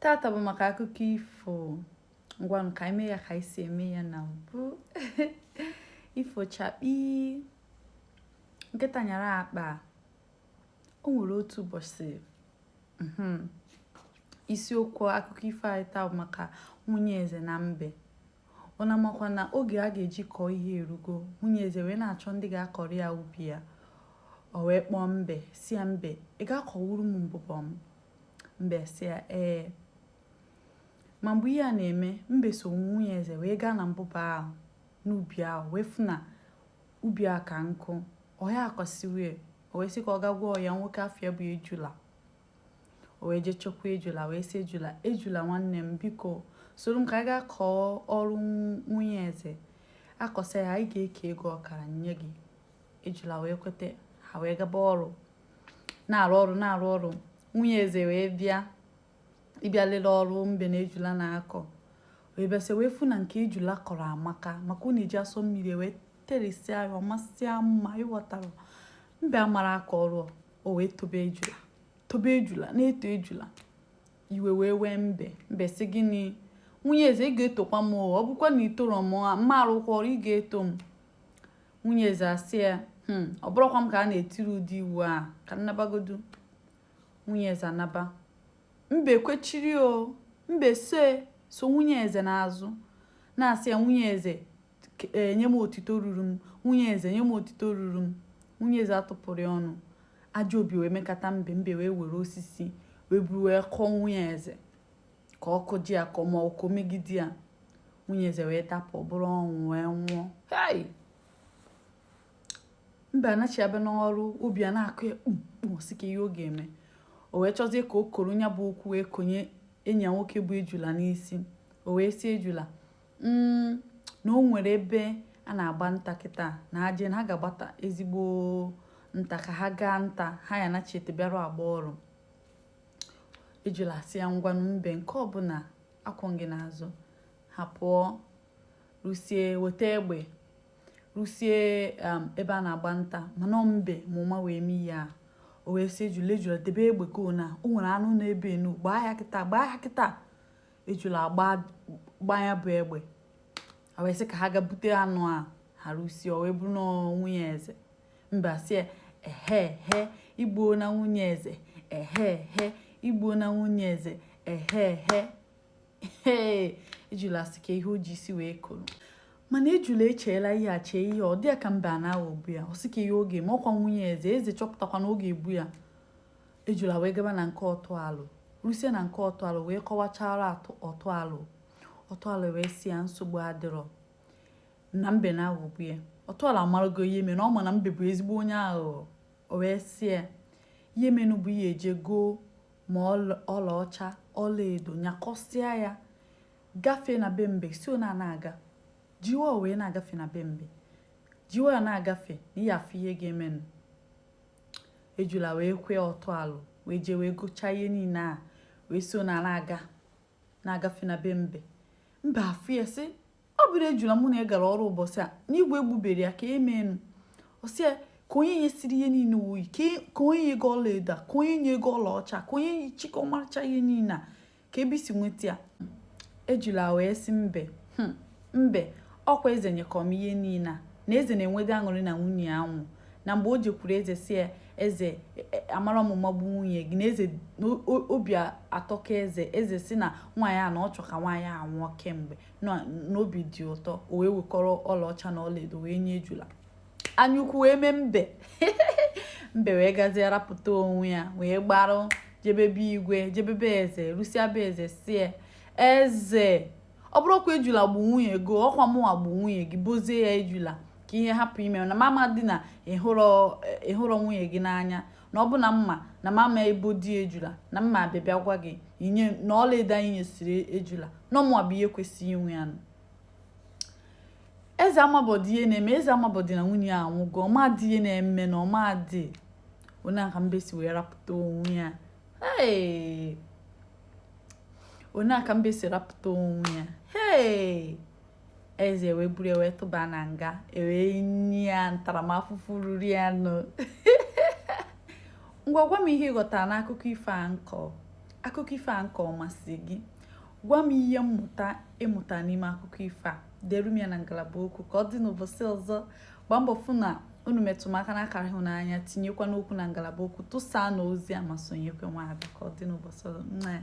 tata bụ maka akụkọ ifo ngwanụ ka i mee ya ka i si eme ya na mbụ ifo chakpi nkịta nyara akpa o nwere otu ụbọchị mhm, isiokwu akụkọ ifo anyị taa bụ maka nwunye eze na mbe Unu amakwa na oge a ga-eji kọọ ihe erugo. Nwunye eze wee na-achọ ndị ga-akọrọ ya ubi ya. O wee kpọọ mbe, sị ya mbe, ị ga-akọwuru m mbụbọ m? Mbe sị ya ee. Ma mgbe ihe a na-eme, mbe so nwunye eze wee gaa na mbụbọ ahụ n'ubi ahụ wee fụ na ubi a ka nke ọ ya-akọsiwe, o wee sị ka ọ gaa gwa ọyị ya nwoke afa ya bụ Ejula. o wee jee chọkwa ejula wee sị ejula ejula nwanne m biko soro m ka anyị gaa kọọ ọrụ nwunye eze a kọsịa ya anyị ga-eke ego ọkara nye gị ejula wee kweta ha wee gaba ọrụ na-arụ ọrụ na-arụ ọrụ nwunye eze wee bịa ịbịa lele ọrụ mbe na ejula na-akọ wee bịasị wee fụ na nke ejula kọrọ amaka maka ọ na-eji asọ mmiri wee terisia ya ọ masịa mma ị ghọtara mbe amarọ akọ ọrụ o wee tobe ejula tobe ejula na-eto ejula iwe wee wee mbe mbe sị gịnị nwunye eze ị ga-etokwa m ọ bụkwa na i toro m m ma arụkwa ọrụ ị ga-eto m nwunye eze asị ya hmm, ọ bụrọkwa m ka a na-etiri ụdị iwu a ka m nabagodu nwunye eze anaba mbe kwechiri o mbe so so nwunye eze n'azụ na-asị ya nwunye eze e, nye m otito ruru m nwunye eze nye m otito ruru m nwunye eze atụpụrọ ya ọnụ ajọ obi wee mekata mbe mbe wee were osisi wee buru wee kụọ nwunye eze ka ọ kụji ya ka ọ ma ọkụ megide ya nwunye eze wee dapụ ọ bụrụ ọnwụ wee nwụọ hai mbe anachi abịa n'ọrụ obi a na-akụ ya kpumkpum sị ke ihe ọ ga-eme o wee chọzie ka o koro ya bụ okwu wee konye enyi ya nwoke bụ ejula n'isi o wee sị ejula mm, na o nwere ebe a na-agba nta kịta na ha jee na ha ga-agbata ezigbo nta ka ha gaa nta ha ya-anachite bịa rụ agba ọrụ ejula asị ya ngwanụ mbe nke ọbụla akwụ m gị n'azụ ha pụọ rusie weta egbe rusie um, ebe a na-agba nta mana mbe ma ụma wee mee ya o wee sị ejula ejula debe egbe ka ona o nwere anụ na-ebe enu gbaa ya kịta gbaa ya kịta ejula agbaa ya bụ egbe ha wee sị ka ha gaa bute anụ a ha rusie o wee bụrụ na nwunye eze mbe sị ehe he i gbuona nwunye eze ehe he i gbuona nwunye eze ehe he ejula sị ke ihe o ji isi wee koro mana ejula echeela ihe a chee ihe ọ dị ya ka mbe na-aghọgbu ya ọ sị ke ihe ọ ga-eme ọkwa nwunye eze eze chọpụtakwa na ọ ga-egbu ya ejula wee gaba na nke ọtụ alụ rusie na nke ọtụ alụ wee kọwachara ọtụ alụ ọtụ alụ wee sị ya nsogbu adịrọ na mbe na-aghọgbu ya ọtụ alụ amarago ihe mere na ọ ma na mbe bụ ezigbo onye aghụghọ o wee sị ya ihe menụ bụ ị ya-eje goo ma ọla- ọlaọcha ọlaedo nyakọsịa ya gafee na be mbe si ona na-aga jiwa wee na-agafe na be mbe jiwa ya na-agafe na ị ya-afụ ihe ga-emenụ ejula wee kwe ọtụ alụ wee jee wee gochaa ihe niile a wee so na na-aga na-agafe na be mbe mbe afụ ya sị ọ bụrọ ejula mụ na ị gara ọrụ ụbọchị a na igwe egbuberọ ya ka emenụ ọ sị ya ka onye nyesiri ihe niile o yi ka onye nye gị ọlaedo a ka onye nye gị ọlaọcha ka onye chịkọ ọmarịcha ihe niile a ka ebe i si nweta ya ejula wee sị mbe hmm, mbe ọkwa eze nyekọ m ihe niile a na eze na-enwede aṅụrị na nwunye ya nwụ na mgbe o jekwuru eze sị ya eze e, e, amarọ m ụma gbu nwunye gị na eze obi atọka eze eze sị na nwaanyị a na ọ chọ ka nwaanyị a nwụọ kemgbe na obi dị ụtọ o wee wekọrọ ọlaọcha na ọlaedo wee nye ejula anyaukwu wee mee mbe mbe wee gazie rapụta onwe ya wee gbara jebe be igwe jebe be eze rusia be eze sị ya eze ọ bụrọkwa ejula gbu nwunye gị ọkwa mụnwa gbu nwunye gị bozie ya ejula ka ihe hapụ ime na m amadị na ị hụrọ nwunye gị n'anya na ọ bụ na m ma na m ama ebodi ejula na m ma abịa bịa gwa gị inye na ọlaedo a i nyesiri ejula na ọ mụwa bụ onye kwesịrị inwe ya nụ eze amabọdị ihe na-eme eze amabọdị na nwunye ya anwụgo ọ madị ihe na-eme na ọ madị ọ nya ka mbe si wee rapụta onwe ya Hey! ọ nya ka mbe si rapụta onwe ya Hey! eze wee buru ya wee tụba na nga e wee nye ya ntaramahụhụ ruru ya nụ ngwa gwa m ihe ị ghọtara n'akụkọ ifo a m kọ akụkọ ifo a m kọ ọ masị gị gwa m ihe mmụta ị mụta n'ime akụkọ ifo a dere m ya na ngalaba okwu ka ọ dị n'ụbọchị ọzọ gbaa mbọ fụ na unu metụ m aka n'akara ịhụnanya tinyekwanụ okwu na ngalaba okwu tụsaanụ ozi a ma sonyekwa nwaada ka ọ dị n'ụbọchị ọzọ nna ya